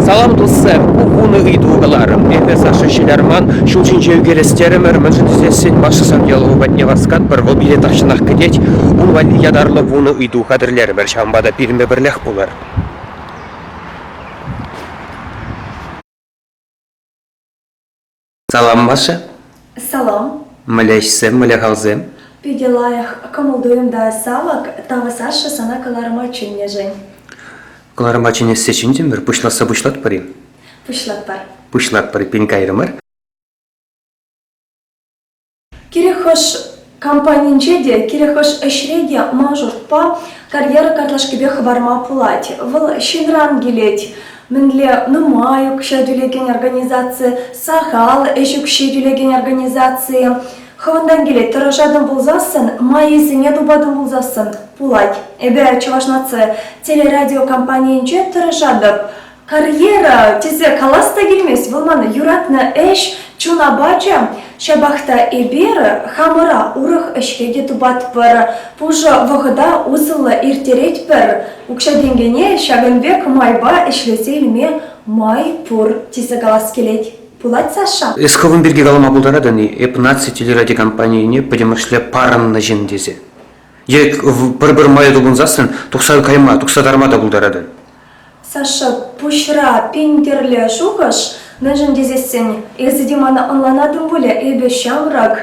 Салам, туссем! Ку вунӑ ыйту каларӑм. Эпӗ Саша ҫылярман, ҫул ҫинче ӳкерес терӗмӗр, мӗншӗн тесессӗн вашӑсан ялаву патне васкатпӑр, вӑл пире тахҫанах кӗтет. Ун валли ятарлӑ вунӑ ыйту хатӗрлерӗмӗр, ҫавӑнпа та пирӗнпе пӗрлех пулӑр. Салам, Маша. Салам. Мӗлешсем, мӗле-халсем. Питӗ лайӑх кӑмӑл туйӑмта савӑк тавӑсаҫҫӗ сана кӑларӑма чӗннӗшӗн. Кӑларӑма чӗнессе чӗнтӗмӗр, пуҫласса пуҫлатпӑр-и? Пуҫлатпар. Пуҫлатпӑр, пин кайрӑмӑр. Кирек хӑш компанинче те, кирек хӑш ӗҫре те мажорпа карьера картлашкипе хӑварма пулать. Вӑл ҫынран килет. Мӗнле нумай укҫа тӳлекен организаци, сахал ӗҫ укҫи тӳлекен организаци. Хӑвӑнтан килет, тӑрӑшатӑн пулсассӑн, майӗсене тупатӑн пулсассӑн пулать. Эпӗ Чӑваш наци телерадиокомпанийӗнче тӑрӑшатӑп. Карьера тесе калас та килмест, вӑл ман юратнӑ ӗҫ, чун апачӗ. Ҫапах та эпир хамӑра урӑх ӗҫре те тупатпӑр, пушӑ вӑхӑта усӑллӑ ирттеретпӗр. Укҫа-тенкӗне ҫакӑн пек майпа ӗҫлесе илме май пур тесе калас килет. Пулать, Саша? Эс хӑвӑн пирки калама пултаратӑн-и эп наци телеради компанийӗне пӗтӗмӗшле парӑннӑ ҫын тесе? Е пӗр-пӗр майӗ тупӑнсассӑн тухса кайма, тухса тарма та пултаратӑн? Саша, пуҫра пин тӗрлӗ шухӑш. Мӗншӗн тесессӗн эсӗ те мана ӑнланатӑн пулӗ, эпӗ ҫамрӑк.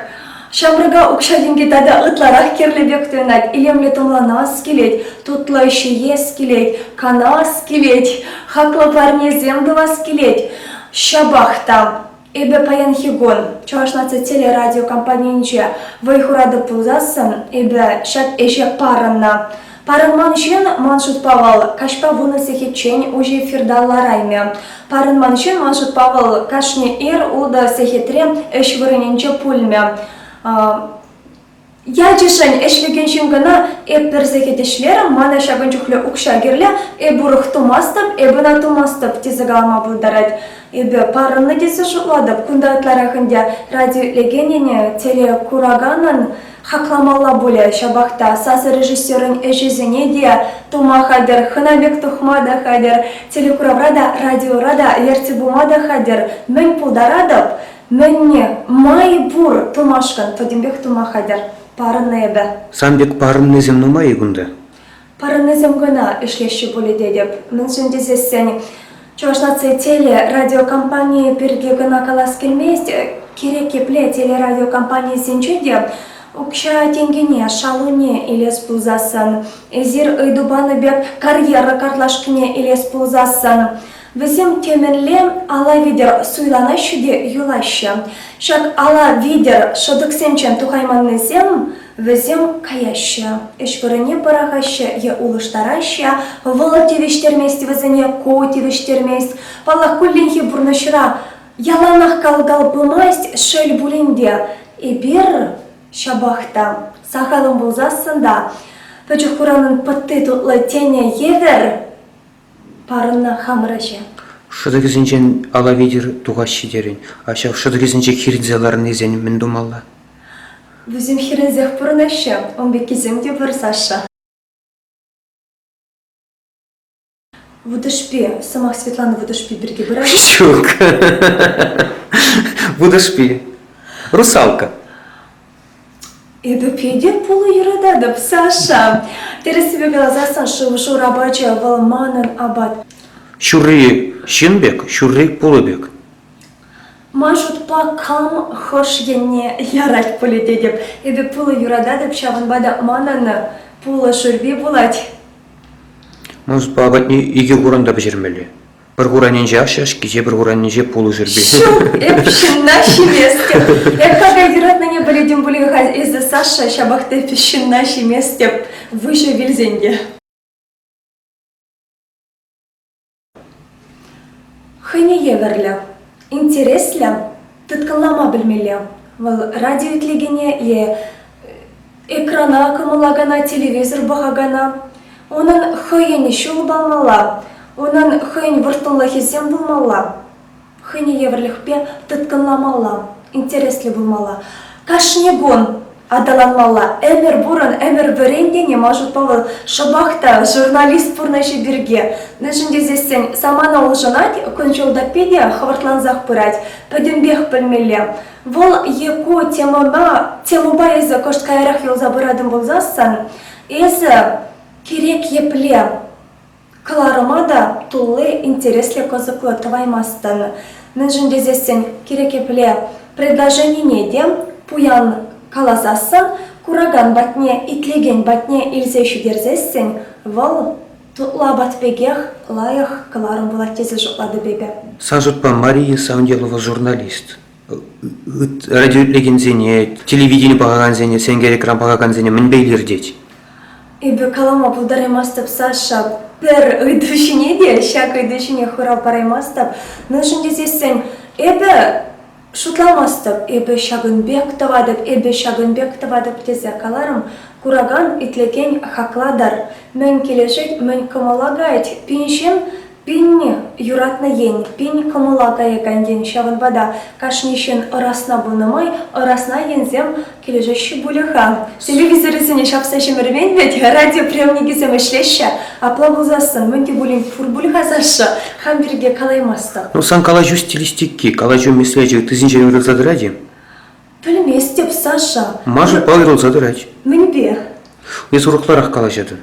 Ҫамрӑка укҫа-тенкӗ тата ытларах кирлӗ пек туйӑнать. Илемлӗ тумланас килет, тутлӑ ҫиес килет, канас килет, хаклӑ парнесем тӑвас килет. Ҫапах та Эпӗ паянхи кун Чӑваш наци телерадиокомпанийӗнче вӑй хуратӑп пулсассӑн, эпӗ ҫак ӗҫе парӑннӑ. Парӑнман ҫын, ман шутпа, вӑл каҫпа вунӑ сехетчен уҫӑ эфирта лараймӗ. Парӑнман ҫын, ман шутпа, вӑл кашни ир ултӑ сехетре ӗҫ вырӑнӗнче пулмӗ. Ячӗшӗн ӗҫлекен ҫын кӑна эп пӗр сехет ӗҫлерӗм, мана ҫакӑн чухлӗ укҫа кирлӗ, эп урӑх тумастӑп, эп ӑна тумастӑп тесе калама пултарать. Эпӗ парӑннӑ тесе шутлатӑп. Кунта ытларах ӗнтӗ радиоилекенӗне, телекураканӑн хакламалла пулӗ. Ҫапах та сасӑрежиссерӑн ӗҫӗсене те тума хатӗр, хӑна пек тухма та хатӗр, телекуравра та, радиора та ертсе пыма та хатӗр. Мӗн пултаратӑп? Мӗнне май пур тумашкӑн пӗтӗмпех тума хатӗр. Парӑннӑ эпӗ. Сан пек парӑннисем нумай-и кунта? Парӑннисем кӑна ӗҫлеҫҫӗ пулӗ тетӗп. Мӗншӗн тесессӗн Чӑваш наци теле радиокомпанийӗ пирки кӑна калас килмест. Кирек епле телерадиокомпанисенче те укҫа-тенкӗне, шалуне илес пулсассӑн, эсир ыйту панӑ пек карьера картлашкине илес пулсассӑн, Вӗсем темӗнле ала витӗр суйланаҫҫӗ те юлаҫҫӗ. Ҫак ала витӗр шӑтӑксенчен тухайманнисем вӗсем каяҫҫӗ, ӗҫ вырӑнне пӑрахаҫҫӗ е улӑштараҫҫӗ. Вӑл тивӗҫтермест вӗсене, ку тивӗҫтермест. Паллах, кулленхи пурнӑҫра яланах кал-кал пымасть, шел пулин те, эпир ҫапах та сахалӑн пулсассӑн та пӗчӗк хуранӑн пӑтти тутлӑ тенӗ евӗр Парӑннӑ хамӑр ӗҫе. Шӑтӑкӗсенчен ала витӗр тухаҫҫӗ терӗн. А ҫав шӑтӑкӗсенче хирӗнсе ларнисен мӗн тумалла? Вӗсем хирӗнсех пурӑнаҫҫӗ, ун пеккисем те вырсаҫҫӗ. Вутӑшпи, сӑмах Светлана Вутӑшпи пирки пырать. Ҫук. Вутӑшпи. Русалка. Эпӗ питӗ пулӑ юрататӑп, Саша. Тӗрӗссипе каласан, шыв-шур апачӗ вӑл манӑн апат. Ҫурри ҫын пек, ҫурри пулӑ пек. Ман шутпа, кам хӑш енне ярать пулӗ тетӗп. Эпӗ пулӑ юрататӑп, ҫавӑнпа та манӑн пулӑ шӳрпи пулать. Мунспа апатне икӗ хурӑн та пӗҫермелле. Пӗр хуранӗнче ашшӗ-ашки, те пӗр хуранӗнче пулӑшӑрпи. Эп ҫынна ҫиместӗп. Эп какай юратнине пӗлетӗн пулин-ха эсӗ, Саша, ҫапах та эп ҫынна ҫиместӗп, выҫӑ вилсен те. Хӑйне евӗрлӗ. Интереслӗ. Тыткӑнлама пӗлмелле. Вӑл радио итлекене е экрана кӑмӑллакана телевизор пӑхакана, унӑн хӑйӗн ҫул палмалла, унӑн хӑйӗн вӑрттӑнлӑхӗсем пулмалла, хӑйне евӗрлӗхпе тыткӑнламалла, интереслӗ пулмалла. Кашни кун аталанмалла. Ӗмӗр пурӑн, ӗмӗр вӗрен тени ман шутпа вӑл шӑпах та журналист пурнӑҫӗ пирки. Мӗншӗн тесессӗн самана улшӑнать, кун-ҫул та питӗ хӑвӑртлансах пырать. Пӗтӗмпех пӗлмелле. Вӑл е ку темӑна, темӑпа эсӗ кӑшт каярах юлса пыратӑн пулсассӑн, эсӗ кирек епле Кӑларӑма та тулли интереслӗ кӑсӑклӑ тӑваймастӑн, мӗншӗн тесессӗн кирек епле предложенине те пуян каласассӑн, куракан патне итлекен патне илсе ҫитерсессӗн вӑл тутлабат пекех лайӑх кӑларӑм пулать тесе шутлатӑп эпӗ. Сан шутпа Мария Савнилова журналист радио итлекенсене, телевидени пӑхакансене, сенкер-экран пӑхакансене мӗнпе илӗртет? Эпӗ калама пултараймастӑп, Саша. Пӗр ыйту ҫине те ҫак ыйту ҫине хурав параймастӑп. Мӗншӗн тесессӗн эпӗ шутламастӑп, эпӗ ҫакӑн пек тӑватӑп, эпӗ ҫакӑн пек тӑватӑп тесе каларӑм. Куракан, итлекен хаклатӑр. Мӗн килӗшет, мӗн кӑмӑл акать. Пин ҫын Пенни – юратнӑ ен. Пен кӑмӑла каякан ен, ҫавӑнпа та кашни ҫын ӑрасна пынӑ май ӑрасна енсем килӗшеҫҫӗ пулӗ-ха. Телевизорӗсене ҫапса ҫӗмӗрмен вӗт, радиоприемникӗсем ӗҫлеҫҫӗ. Апла пулсассӑн мӗн те пулин пур пуль-ха, Саша? Хам пирки калаймастӑп. Ну, сан калаҫу стилистики, калаҫу меслечӗ ыттисенчен уйрӑлса тӑрать-и? Пӗлместӗп, Саша. Маша палӑрӑлса тӑрать. Мӗнпе? Эс урокларах калаҫатӑн.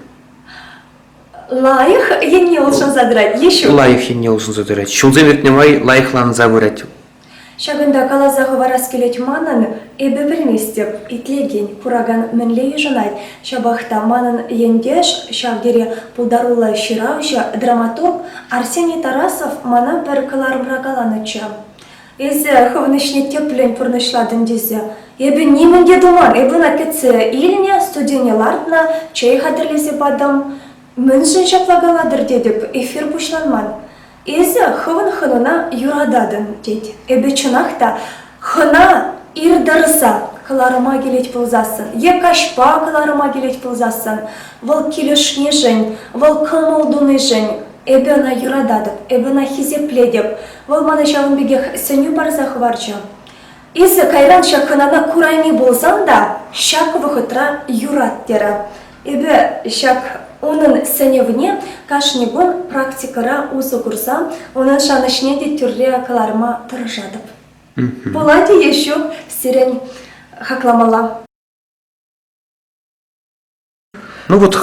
Лайӑх енне улшӑнса тӑрать Еҫук. Лайӑх енне улшӑнса тӑрать. Ҫулсем иртнӗ май лайӑхланса пырать. Ҫакӑнта каласа хӑварас килет манӑн, эпӗ пӗлместӗп, итлекен, куракан мӗнле йышӑнать. Ҫапах та манӑн ентеш, ҫав тери пултаруллӑ ҫыравҫӑ, драматург Арсений Тарасов мана пӗр кӑларӑмра каланӑччӗ. Эсӗ хӑвӑн ӗҫне тӗплӗн пурнӑҫлатӑн тесе эпӗ нимӗн те туман. Эпына кӗтсе илнӗ, студине лартнӑ чей хатӗрлесе патӑм. Мӗншӗн ҫапла калатӑр тетӗп, эфир пуҫланман. Эсӗ хӑвӑн хӑнана юрататӑн тет. Эпӗ чӑнах та хӑна ир тӑрса кӑларӑма килет пулсассӑн е каҫпа кӑларӑма килет пулсассӑн вӑл килӗшнишӗн, вӑл кӑмӑл тунишӗн Эпӗ ӑна юрататӑп, эпӗ ӑна хисеплетӗп. Вӑл мана ҫавӑн пекех сӗнӳ парса хӑварчӗ. Эсӗ кайран ҫак хӑнана курайми пулсан та ҫак вӑхӑтра юрат терӗ. Эпӗ ҫак унӑн сӗнӗвне кашни кун практикӑра усӑ курса унӑн шанӑҫне те тӳрре кӑларма тӑрӑшатӑп. Пулать-и е ҫук сирӗн хакламалла. Ну вот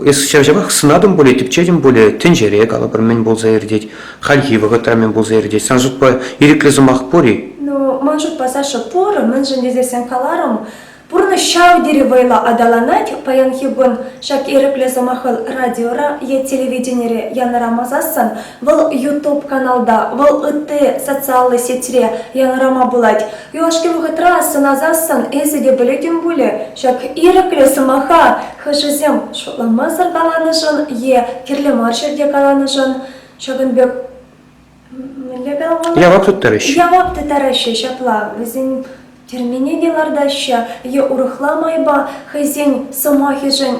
эс ҫав-ҫавах сӑнатӑн пулӗ, тӗпчетӗн пулӗ, тӗнчере, калӑпӑр, мӗн пулса иртет, хальхи вӑхӑтра мӗн пулса иртет. Сан шутпа ирӗклӗ сӑмах пур-и? Ну, ман шутпа, Саша, пур, мӗншӗн тесессӗн каларӑм, пурнӑҫ ҫав тери вӑйлӑ аталанать. Паянхи кун ҫак ирӗклӗ сӑмаха радиора е телевиденире янӑрамасассӑн, вӑл YouTube каналта, вӑл ытти социаллӑ сетьре янӑрама пулать. Юлашки вӑхӑтра сӑнасассӑн эсӗ те пӗлетӗн пулӗ, Ҫак ирӗклӗ сӑмаха хӑшӗсем шутламасӑр каланӑшӑн е кирлӗ мар ҫӗрте каланӑшӑн ҫакӑн пек мӗнле калама? Явап тыттарӑҫ. Явап тыттараҫҫӗ ҫапла. Вӗсен тӗрмене те лартаҫҫӗ е урӑхла майпа хӑйсен сӑмахӗшӗн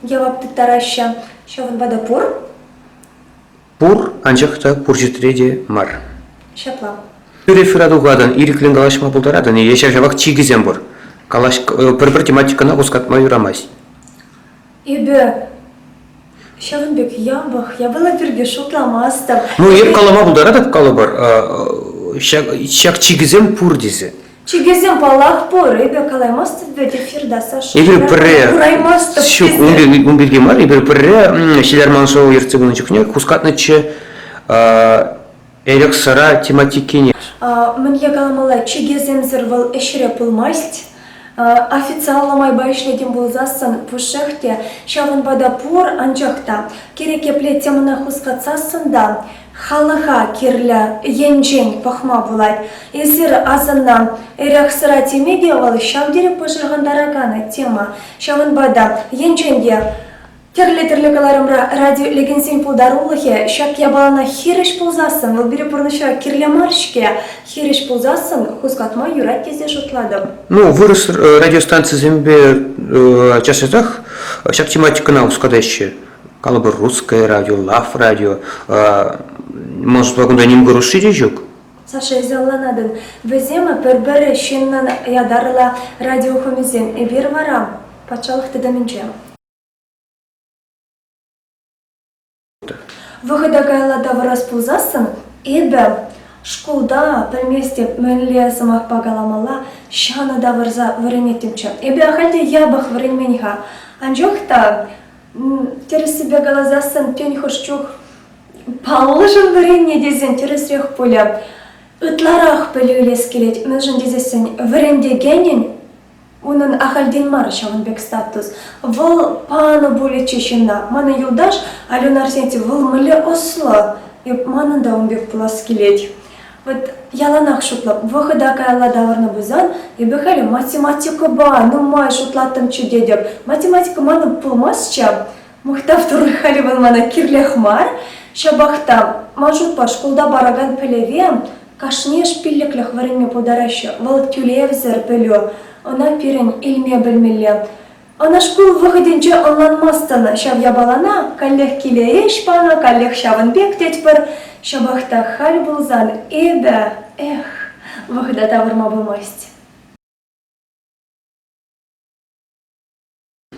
явап тыттараҫҫӗ. Ҫавӑнпа та пур. Пур, анчах та пур чӗтре те мар. Ҫапла. Тӳрех тухатӑн, ирӗклӗн калаҫма пултаратӑн-и е ҫав-ҫавах чикӗсем пур. Калаҫ, э, пӗр-пӗр тематикӑна хускатма юрамасть. Эпӗ ҫавӑн пек ямпах, япала пирки шутламастӑп. Ну, эп калама пултаратӑп, калӑпӑр. Ҫак чикӗсем пур тесе. Чикесем, паллах, пур. Эпӗ калаймастӑп вӗт эфирта, Саша. Эпир пӗрре... Кураймастӑп Ҫук, ун пирки, ун пирки мар. Эпир пӗрре Ҫилерман шоу ертсе пынӑ чухне хускатнӑччӗ эрех-сӑра тематикине. Мӗнле каламалла, чикесемсӗр вӑл ӗҫре пулмасть. Официаллӑ майпа ӗҫлетӗн пулсассӑн пушшех те, ҫавӑнпа та пур, анчах та кирек епле темӑна хускатсассӑн та Халӑха кирлӗ енчен пӑхма пулать. Эсир асӑннӑ эрех-сӑра теме те вӑл ҫав тери пӑшӑрхантаракан тема. Ҫавӑнпа та енчен те тӗрлӗ-тӗрлӗ кӑларӑмра радиоилекенсен пултарулӑхӗ ҫак япалана хирӗҫ пулсассӑн, вӑл пире пурнӑҫра кирлӗ мар-ҫке, хирӗҫ пулсассӑн хускатма юрать тесе шутлатӑп. Ну, вырӑс э, радиостанцисемпе э, час-часах ҫак тематикӑна хускатаҫҫӗ. калӑпӑр русское радио лав радио может кунта ним кӑрушши те ҫук Саша изоланатӑн вӗсем пӗр-пӗр ҫыннӑн ятарлӑ радиохӑмисем эпир вара патшалӑх тытӑмӗнче вӑхӑта каялла тавӑрас пулсассӑн эпӗ шкулта пӗлместӗп мӗнле сӑмахпа каламалла ҫанӑ тавӑрса вӗренеттӗмччӗ эпӗ ахаль те япӑх вӗренмен-ха анчах та Тӗрӗссипе каласассӑн тен хӑш чух паллӑшӑн вӗреннӗ тесен тӗрӗсрех пулӗ. Ытларах пӗлӳ илес килет, мӗншӗн тесессӗн вӗрентекенӗн унӑн ахальтен мар ҫавӑн пек статус. Вӑл панӑ пулӗччӗ ҫынна. Манӑн юлташ Алюна Арсентьев, вӑл мӗнле ӑслӑ, манӑн та ун пек пулас килет. Вот яланах шутлӑп, вӑхӑта каялла тавӑрнӑ пулсан, эпӗ халӗ математикӑпа нумай шутлаттӑмччӗ тетӗп. Математика манӑн пулмастчӗ. Мухтав туры халӗ вӑл мана кирлех мар. Ҫапах та, ман шутпа, шкулта паракан пӗлӗве кашни ӗҫ пиллӗклӗх вӗренме пултараҫҫӗ. Вӑл тӳлевсӗр пӗлӳ. Ӑна пирӗн илме пӗлмелле. Ӑна шкул вӑхӑтӗнче ӑнланмастӑн ҫав япалана, каллех киле ӗҫ панӑ, каллех ҫавӑн пек тетпӗр. Ҫапах та халь пулсан эпӗ, эх, вӑхӑта тавӑрма пымасть.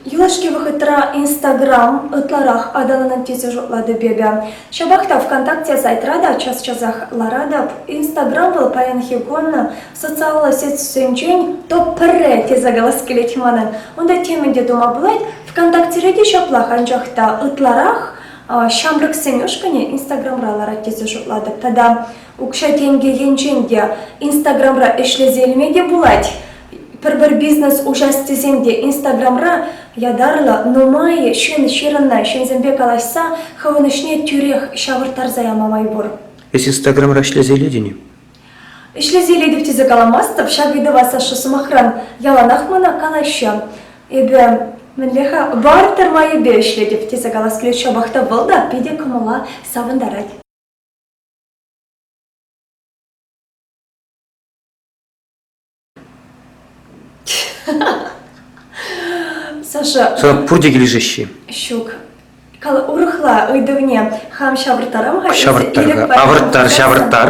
Юлашки вӑхӑтра Инстаграм ытларах аталанать тесе шутлатӑп эпӗ. Ҫапах та ВКонтакте сайтра та час-часах ларатӑп. Инстаграм вӑл паянхи кун социаллӑ сетьсенчен то пӗрре тесе калас килет манӑн. Унта темӗн те тума пулать. ВКонтактере те ҫаплах, анчах та ытларах ҫамрӑксен ушкӑнӗ Инстаграмра ларать тесе шутлатӑп. Тата укҫа-тенкӗ енчен те Инстаграмра ӗҫлесе илме те пулать. Пӗр-пӗр бизнес уҫас тесен те Инстаграмра ятарлӑ нумайӑ ҫын ҫырӑннӑ ҫынсемпе калаҫса хӑвӑн ӗҫне тӳрех ҫавӑрттарса яма май пур. Эс Инстаграмра ӗҫлесе илетӗн-и? Ӗҫлесе илетӗп тесе каламастӑп ҫак ыйтӑва Саша сӑмахран яланах мана калаҫҫӗ. Эпӗ мӗнле-ха вар-тӑр майӗпе ӗҫлетӗп тесе калас килет ҫапах та вӑл та питӗ кӑмӑла савӑнтарать. Саша. Сана пурте килӗшеҫҫӗ. Ҫук. Кал урӑхла ыйтӑвне хам ҫавӑрттарам-ха. Ҫавӑрттар-ха. Авӑрттар, ҫавӑрттар.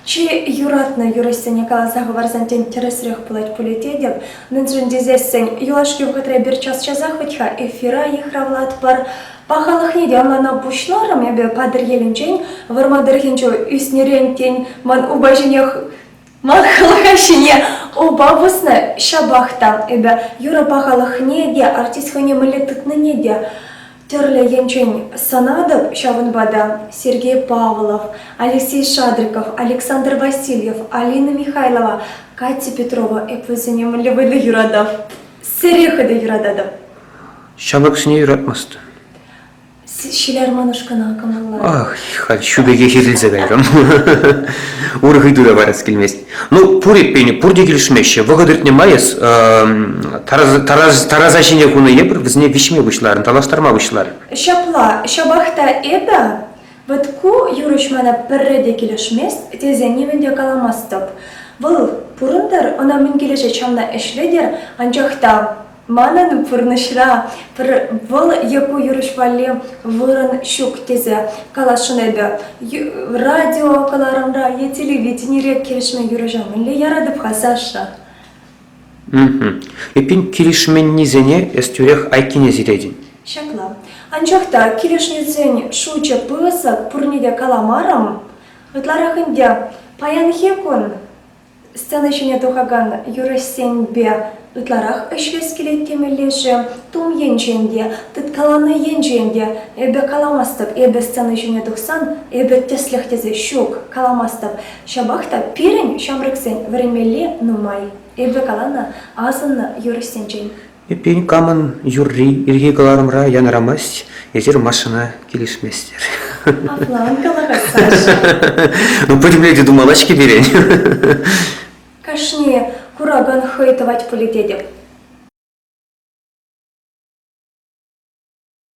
Чи юратнӑ юрӑҫсене каласа хӑварсан тен тӗрӗсрех пулать пулӗ тетӗп. Мӗншӗн тесессӗн юлашки вӑхӑтра пӗр час-часах хӑть-ха эфира йыхравлатпӑр. Пахалӑхне те мана пуҫларӑм эпӗ Патӑрьелӗнчен. Вӑрмар тӑрӑхӗнче ӳснӗрен тен ман упа ҫинех Ман халӑха ҫине упа пӑснӑ, ҫапах та эпӗ юрӑ пахалӑхне те, артист хӑйне мӗнле тытнине те тӗрлӗ енчен сӑнатӑп. Ҫавӑнпа та Сергей Павлов, Алексей Шадриков, Александр Васильев, Алина Михайлова, Катя Петрова эп вӗсене мӗнле вӑйлӑ юратӑп, сере хытӑ юрататӑп. Ҫамрӑксене юратмастӑн. Ҫиларманӑш кӑна кӑмӑллать. Ах, халь ҫу пекех иртӗнсе кайрӑм. Урӑх ыйту та парас килмест. Ну, пур эппин, пурте килӗшмеҫҫӗ. Вӑхӑт иртнӗ май эс тарас, тарас, тараса ҫине хунӑ эпир вӗсене виҫме пуҫларӑн, танлаштарма пуҫларӑн. Ҫапла, ҫапах та эпӗ вот ку юрӑҫ мана пӗрре те килӗшмест тесе нимӗн те каламастӑп. Вӑл пурӑнтӑр, ӑна мӗн килӗшет ҫавна ӗҫлетӗр, анчах та Манӑн пурнӑҫра пӗр вӑл е ку юрӑҫ валли вырӑн ҫук тесе каласшӑн эпӗ. Радио кӑларӑмра е телевиденире килӗшмен юрӑҫа мӗнле яратӑп-ха, Саша? Эппин, килӗшменнисене эс тӳрех айккине сиретӗн. Ҫапла. Анчах та килӗшнисен шучӗ пысӑк, пурне те каламарӑм. Ытларах ӗнтӗ, паянхи кун Сцена ҫине тухакан юрӑҫсемпе ытларах ӗҫлес килет темелле-ши? Тум енчен те, тыткаланӑ енчен те эпӗ каламастӑп. Эпӗ сцена ҫине тухсан эпӗ тӗслӗх тесе ҫук, каламастӑп. Ҫапах та пирӗн, ҫамрӑксен, вӗренмелли нумай. Эпӗ каланӑ, асӑннӑ юрӑҫсенчен. Эппин, камӑн юрри ирхи кӑларӑмра янӑрамасть, эсир Машӑна килӗшместӗр. Апла ан каларӑр, Саша. Ну, пӗтӗмлетӳ те тумалла-ҫке пирӗн. Кашни куракан хӑй тӑвать пулӗ тетӗп.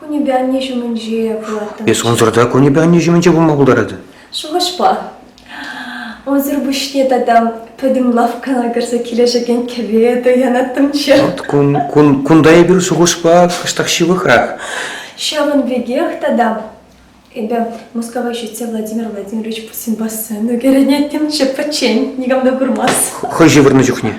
Кунӗпе анне ҫумӗнче пулаттӑм. Эс унсӑр та кунӗпе анне ҫумӗнче пулма пултаратӑн. Шухӑшпа. Унсӑр пуҫне тата пӗтӗм лавккана кӗрсе килӗшекен кӗве туянаттӑмччӗ. Вӑт кун, кун, кунта эпир шухӑшпа кӑштах ҫывӑхрах. Ҫавӑн пекех тата эпӗ Мускава ҫитсе Владимир Владимирович Путин бассейну кӗрӗнеттӗмччӗ пӗччен, никам та курмас. Хӑй ҫывӑрнӑ чухне.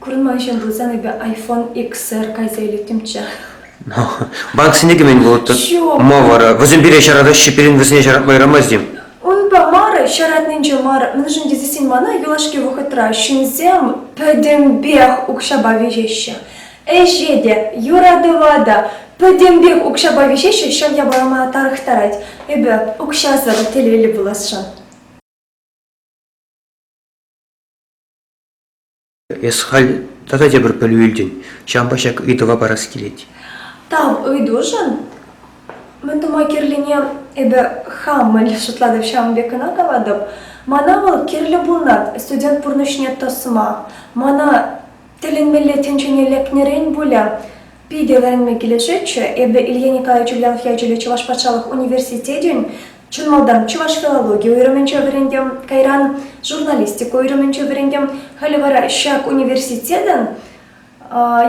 Курман ҫын пулсан эпӗ iPhone XR кайса илеттӗмччӗ. Банксене кӗмен вӑл ма вара? Вӗсем пире ҫаратаҫҫӗ, пирӗн вӗсене ҫаратма юрамасть-им? Унпа мар, ҫаратнинче мар, мӗншӗн тесен мана юлашки вӑхӑтра ҫынсем пӗтӗмпех укҫапа виҫеҫҫӗ. Ӗҫе те, юратӑва та пӗтӗмпех укҫапа виҫеҫҫӗ, ҫав япала мана тарӑхтарать. Эпӗ укҫасӑр телейлӗ пуласшӑн. Эс халь тата тепӗр пӗлӳ илтӗн, ҫавӑнпа ҫак ыйтӑва парас килет. Тав ыйтушӑн. Мӗн тума кирлине эпӗ хам мӗн шутлатӑп ҫавӑн пек кӑна калатӑп. Мана вӑл кирлӗ пулнӑ студент пурнӑҫне тӑсма. Мана тӗлӗнмелле тӗнчене лекнӗрен пулӗ. Питӗ вӗренме килӗшетчӗ эпӗ Илья Николаевич Ульянов ячӗллӗ Чӑваш патшалӑх университетӗн чун малтан чӑваш филологийӗ уйрӑмӗнче вӗрентӗм, кайран журналистика уйрӑмӗнче вӗрентӗм. Халӗ вара ҫак университетӑн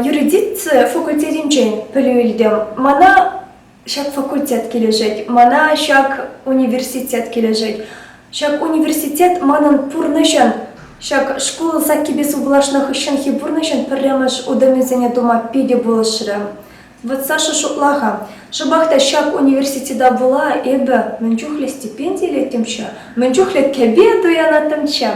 юридици факультетӗнчен пӗлӳ илтӗм. Мана Ҫак факультет килӗшет, мана ҫак университет килӗшет. Ҫак университет манӑн пурнӑҫӑн, ҫак шкул саккипе сывлашнӑ хыҫҫӑнхи пурнӑҫӑн пӗрремӗш утӑмӗсене тума питӗ пулӑшрӗ. Вот Саша шутла-ха, шӑпах та ҫак университета пула эпӗ мӗн чухлӗ стипенди илеттӗмччӗ, мӗн чухлӗ кӗпе туянаттӑмччӗ.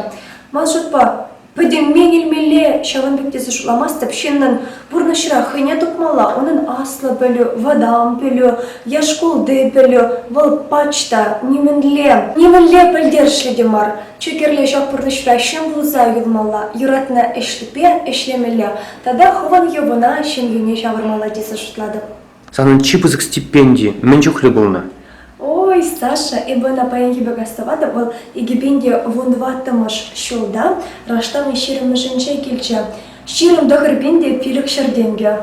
Ман шутпа, Пӗтӗмпех илмелле, ҫавӑн пек тесе шутламастӑп, ҫыннӑн пурнӑҫра хӑйне тупмалла, унӑн аслӑ пӗлӳ, вӑтам пӗлӳ, е шкулти пӗлӳ, вӑл пач та, нимӗнле, нимӗнле пӗлтерӗшлӗ те мар. Чи кирли ҫак пурнӑҫра ҫын пулса юлмалла, юратнӑ ӗҫлӗпе ӗҫлемелле тата хӑвӑн йӑвӑна, ҫемйӳне ҫавӑрмалла тесе шутлатӑп. Санӑн чи пысӑк стипенди мӗн чухлӗ пулнӑ? Ой, Саша, эпӗ ӑна паянхи пек астӑватӑп, вӑл икӗпенте вунтӑваттӑмӗш ҫулта раштавне ҫирӗммӗшӗнче килчӗ. Ҫирӗм тӑхӑр пин те пилӗк ҫӗр тенкӗ.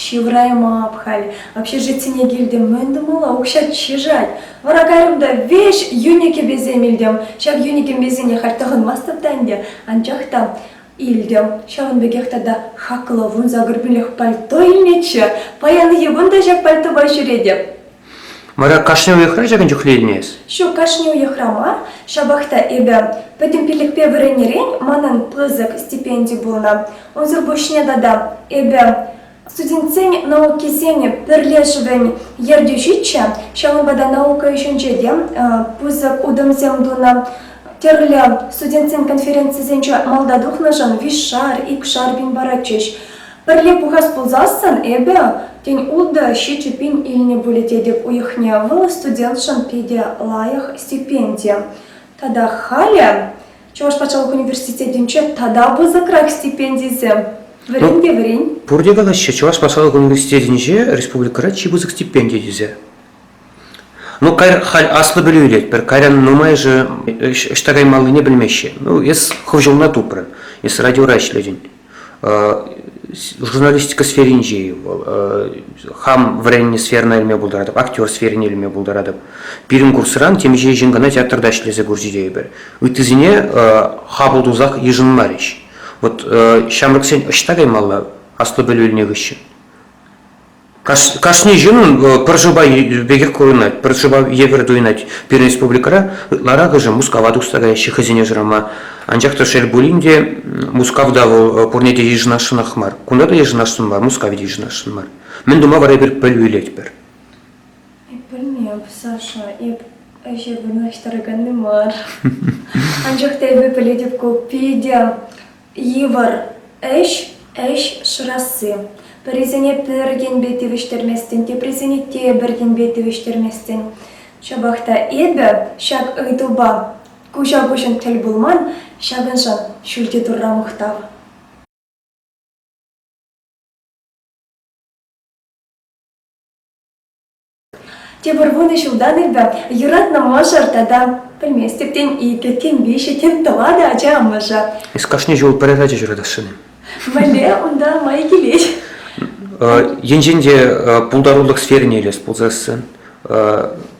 Ҫывӑраймап халь. Общежитине килтӗм, мӗн тумалла, укҫа чышать. Вара кайрӑм та веҫ йӳнӗ кӗпесем илтӗм. Ҫак йӳнӗ кӗпесене халь тӑхӑнмастӑп та ӗнтӗ, анчах та Илтӗм, ҫавӑн пекех тата хаклӑ вун загорпинлӗх пальто илнӗччӗ. Паян йӑван та ҫак пальтопа ҫӳретӗп. Вара кашни уйӑхра ҫакӑн чухлӗ илмест? Ҫук, кашни уйӑхра мар. Ҫапах та эпӗ пӗтӗм пиллӗхпе вӗреннӗрен манӑн пысӑк стипенди пулнӑ. Унсӑр пуҫне тата эпӗ Студентсен наукисен пӗрлешӗвӗн ертӳҫиччӗ, ҫавӑнпа та наука ӗҫӗнче те пысӑк утӑмсем тунӑ. Тӗрлӗ студентсен конференцисенче малта тухнӑшӑн виҫшар, икшар пин паратчӗҫ. Пӗрле пухас пулсассӑн эпӗ, тен, ултӑ ҫичӗ пин илнӗ пулӗ тетӗп уйӑхне, вӑл студентшӑн питӗ лайӑх стипенди. Тата халӗ Чӑваш патшалӑх университетӗнче тата пысӑкрах стипендисем. Вӗрен те вӗрен. Пурте калаҫҫӗ, Чӑваш патшалӑх университетӗнче республикӑра чи пысӑк стипендия тесе. Ну, кайр халь аслӑ пӗлӳ илет, пӗр кайран нумайӑшӗ ӑҫта каймаллине пӗлмеҫҫӗ. Ну, эс хӑв ҫулна тупрӑн, эс радиора ӗҫлетӗн. журналистика сферинчи вӑл хам вӗреннӗ сферӑна илме пултаратӑп актер сферине илме пултаратӑп пирӗн курсран темиҫе ҫын кӑна театрта ӗҫлесе курчӗ тейӗпӗр ыттисене хапӑл тусах йышӑнмарӗҫ вот ҫамрӑксен ӑҫта каймалла аслӑ пӗлӳ илнӗ хыҫҫӑн Кашни ҫыннӑн пӗр шӑпа пекех курӑнать, пӗр шӑпа евӗр туйӑнать. Пирӗн республикӑра ытларахӑшӗ Мускава тухса каяҫҫӗ хӑйсене шырама. Анчах та шел пулин те, Мускавта вӑл пурне те йышӑнасшӑнах мар. Кунта та йышӑнасшӑн мар, Мускаве те йышӑнасшӑн мар. Мӗн тума вара эпир пӗлӳлетпӗр? Эп пӗлмем, Саша, эп ӗҫе вырнаҫтараканни мар. Анчах та эпӗ пӗлетӗп ку питӗ Йывӑр ӗҫ ӗҫ шырасси. Пӗрисене пӗр енпе тивӗҫтерместӗн, теприсене тепӗр енпе тивӗҫтерместӗн. Ҫапах та эпӗ ҫак ыйтупа куҫа-куҫӑн тӗл пулман, ҫакӑншӑн ҫӳлти Турра мухтав. Тепӗр вунӑ ҫултан эпӗ юратнӑ мӑшӑр тата, пӗлместӗп, тен, икӗ, тен, виҫӗ, тен, тӑватӑ ача амӑшӗ. Эс кашни ҫул пӗрер ача ҫуратасшӑн-и? Мӗнле унта май килет? Енчен те пултарулӑх сферине илес пулсассӑн,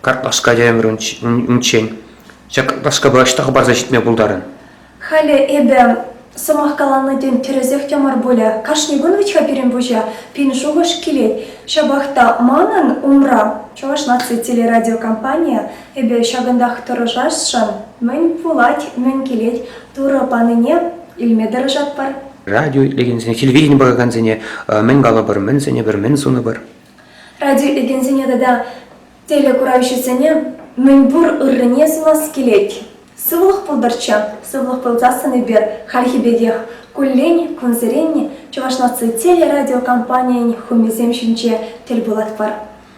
картлашка ӗмӗр унччен ҫак лашкапа ӑҫта хӑпарса ҫитме пултарӑн? Халӗ эпӗ, сӑмах каланӑ тем, тӗрӗсех те мар пулӗ. Кашни кун вӗт-ха пирӗн пуҫа пин шухӑш килет. Ҫапах та манӑн умра Чӑваш наци телерадиокомпанийӗ эпӗ ҫакӑнтах тӑрӑшасшӑн. Мӗн пулать, мӗн килет, Турӑ панине илме тӑрӑшатпӑр. Радио илекенсене, телевидени пӑхакансене мӗн калӑпӑр, мӗн сӗнӗпӗр, мӗн сунӑпӑр? Радио илекенсене тата Телекуравҫӑсене мӗнпур ыррине сунас килет. Сывлӑх пултӑрччӗ, сывлӑх пулсассӑн эпир хальхи пекех куллен, кунсерен Чӑваш наци телерадиокомпанийӗн хумисем ҫинче тӗл пулатпӑр.